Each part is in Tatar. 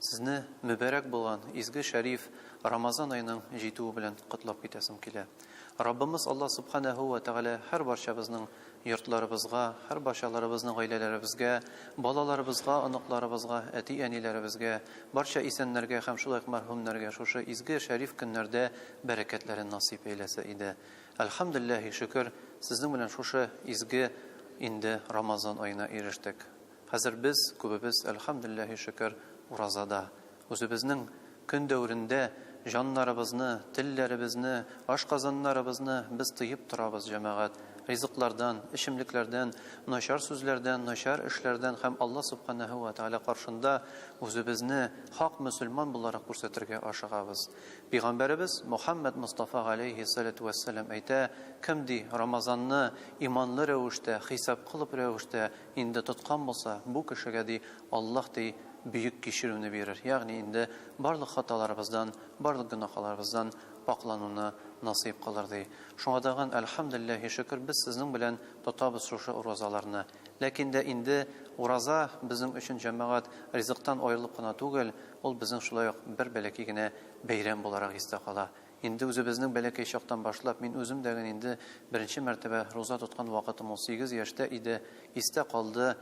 Сезне мөбарәк булган изге шәриф Рамазан аеның җитүе белән котлап китәсем килә. Раббымыз Аллаһ Субханаһу вә Тәгалә һәрбарчабызның йортларыбызга, һәрбарчаларыбызның гаиләләребезгә, балаларыбызга, оныкларыбызга, әти-әниләребезгә, барча исәннәргә һәм шулай ук мәрхүмнәргә шушы изге шәриф көннәрдә бәрәкәтләрен насыйп әйләсә иде. Әлхәмдүлилләһи шөкер, сезнең белән шушы изге инде Рамазан аена ирештек. Хәзер без күбебез, әлхәмдүлилләһи шөкер, уразада. Үзебезнең көн дәверендә җаннарыбызны, телләребезне, ашказаннарыбызны без тыеп торабыз, җәмәгать. Ризыклардан, эчемлекләрдән, начар сүзләрдән, начар эшләрдән һәм Алла Субханәһү вә Тәгалә каршында үзебезне хак мөселман буларак күрсәтергә ашыгабыз. Пигамбәребез Мөхәммәд Мостафа галәйһи саләтү вәссәлам әйтә, Кем ди, Рамазанны иманлы рәвештә, хисап кылып рәвештә Инде тоткан булса, бу кешегә, ди, Аллаһ, ди, бөек кичерүне бирер, ягъни инде барлык хаталарыбыздан, барлык гөнаһаларыбыздан пакълануны насыйп кылыр, ди. Шуңа тагын, әлхәмдүлилләһи шөкер, без сезнең белән тотабыз шушы уразаларны. Ләкин дә инде ураза безнең өчен, җәмәгать, ризыктан аерылып кына түгел, ул безнең шулай ук бер бәләкәй генә бәйрәм буларак истә кала. Инде үзебезнең бәләкәй чактан башлап, мин үзем дә гел инде беренче мәртәбә руза тоткан вакытым ул сигез яшьтә иде, истә калды,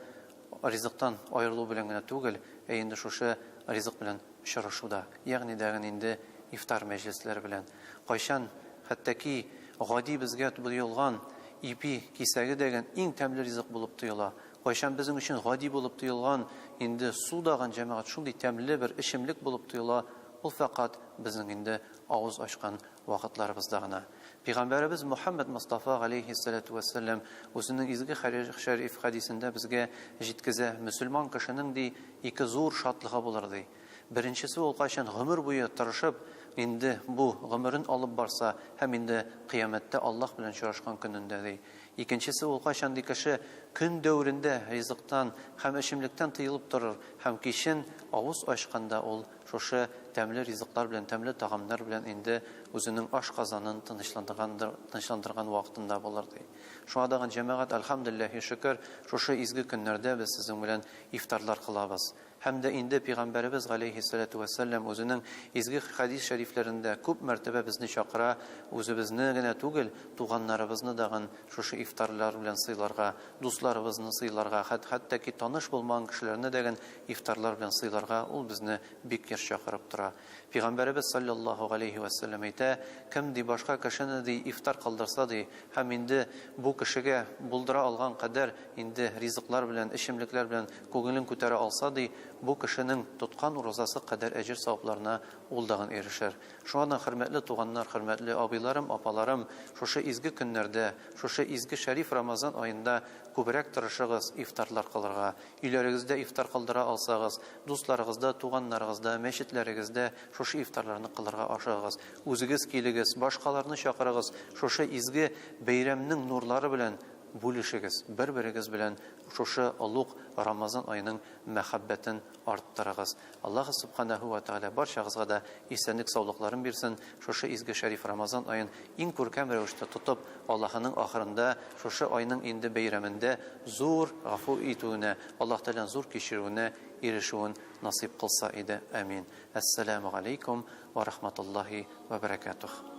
ризыктан аерылу белән генә түгел, ә инде шушы ризык белән очрашу да, ягъни дә гел инде ифтар мәҗлесләре белән. Кайчан хәттәки гади безгә тоелган ипи кисәге дә гел иң тәмле ризык булып тоела, кайчан безнең өчен гади булып тоелган инде су да гел, җәмәгать, шундый тәмле бер эчемлек булып тоела, Ул фәкать безнең инде авыз ачкан вакытларыбызда гына. Пигамбәребез Мөхәммәд Мостафа галәйһиссәләтү вәссәлам үзенең изге шәриф хәдисендә безгә җиткезә, Мөселман кешенең, ди, ике зур шатлыгы булыр, ди. Беренчесе ул кайчан гомер буе тырышып, инде бу гомерен алып барса һәм инде Кыямәттә Аллаһ белән очрашкан көнендә, ди. Икенчесе ул кайчан, ди, кеше көн дәверендә ризыктан һәм эчемлектән тыелып торыр һәм кичен авыз ачканда ул Шушы тәмле ризыклар белән, тәмле тагамнар белән инде үзенең ашказанын тынычландыргандыр, тынычландырган вакытында булыр, ди. Шуңа тагын, җәмәгать, Әлхәмдүлилләһи шөкер, шушы изге көннәрдә без сезнең белән ифтарлар кылабыз. Һәм дә инде Пәйгамбәребез, галәйһиссәләтү вәссәлам, үзенең изге хәдис шәрифләрендә күп мәртәбә безне чакыра, үзебезне генә түгел, туганнарыбызны дагын шушы ифтарлар белән сыйларга, дусларыбызны сыйларга, хәт, хәтта ки таныш булмаган кешеләрне дәген Ифтарлар белән сыйларга ул безне бик еш чакырып тора. Пигамбәребез салләллаһу галәйһи вә сәлләм әйтә, Кем, ди, башка кешене, ди, ифтар кылдырса, ди, һәм инде бу кешегә булдыра алган кадәр инде ризыклар белән, эчемлекләр белән күңелен күтәрә алса, ди, бу кешенең тоткан уразасы кадәр әҗер-савапларына ул дагын ирешер. Шуңардан, хөрмәтле туганнар, хөрмәтле абыйларым, апаларым, шушы изге көннәрдә, шушы изге шәриф Рамазан аенда күбрәк тырышыгыз ифтарлар кылырга, Өйләрегездә ифтар кылдыра алсагыз, дусларыгызда, туганнарыгызда, мәчетләрегездә шушы ифтарларны кылырга ашыгыгыз. Үзегез килегез, башкаларны чакырыгыз, шушы изге бәйрәмнең нурлары белән бүлешегез, бер-берегез белән шушы олуг Рамазан аеның мәхәббәтен арттырыгыз. Аллаһ Субханаһу ва Тәгалә барчагызга да исәнлек саулыкларын бирсен, шушы изге шәриф Рамазан аен иң күркәм рәвештә тотып, Аллаһының ахырында, шушы айның инде бәйрәмендә зур гафу итүенә, Аллаһ Тәгаләнең зур кичерүенә ирешүен насыйп кылса иде, амин. Әссәләмү галәйкүм вә рахматуллаһи вә бәрәкәтүһ.